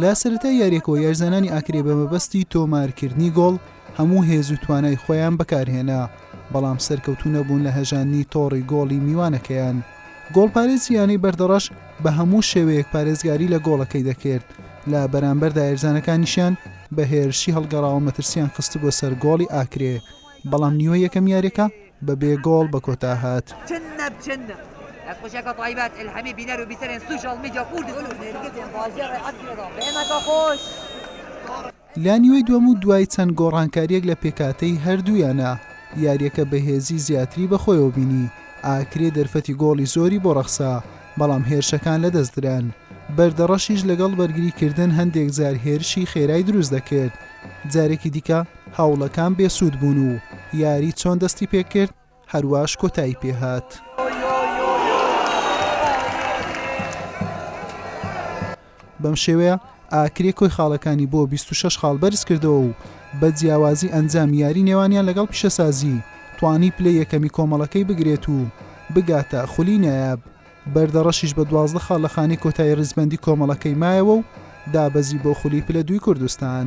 لە سەرەتای یاریەکەوە یارزانانی ئاکرێ بە مەبەستی تۆمارکردنی گۆڵ هەموو هێز و توانای خۆیان بەکارهێنا بەڵام سەرکەوتو نەبوون لە هەژاندنی تۆڕی گۆڵی میوانەکەیان گۆڵپارێزی یانەی بەردەڕەش بە هەموو شێوەیەک پارێزگاری لە گۆڵەکەی دەکرد لە بەرامبەر دایرزانەکانیشیان بە هێرشی هەڵگەڕاوە مەترسیان خستبووە سەر گۆڵی ئاکرێ بەڵام نیوە یەکەم یاریەکە بە بێ گۆڵ بە کۆتا هات. لە نیوەی دووەم و دوای چەند گۆڕانکارییەک لە پێکهاتەی هەردوویانە، یارییەکە بەهێزی زیاتری بەخۆیەوە بینی، ئاکرێ دەرفەتی گۆڵی زۆری بۆ ڕەخسا، بەڵام هێرشەکان لەدەست دران، بەردەڕەشیش لەگەڵ بەرگریکردن هەندێکجار هێرشی خێرای دروست دەکرد، جارێکی دیکە. هەوڵەکان بێ سوود بوون و یاری چۆن دەستی پێ کرد هەرواش کۆتایی پێ هات. بەم شێوەیە ئاکرێ کۆی خاڵەکانی بۆ 26 خاڵ بەرز کردەوە و بە جیاوازی ئەنجام یاری نێوانیان لەگەڵ پیشەسازی توانی پلەی یەکەمی کۆمەڵەکەی بگرێت و بگاتە خولی نایاب. بەردەڕەشیش بە دوازدە خاڵ لە خانەی کۆتایی ڕیزبەندی کۆمەڵەکەی مایەوە و دابەزی بۆ خولی پلە دووی کوردستان.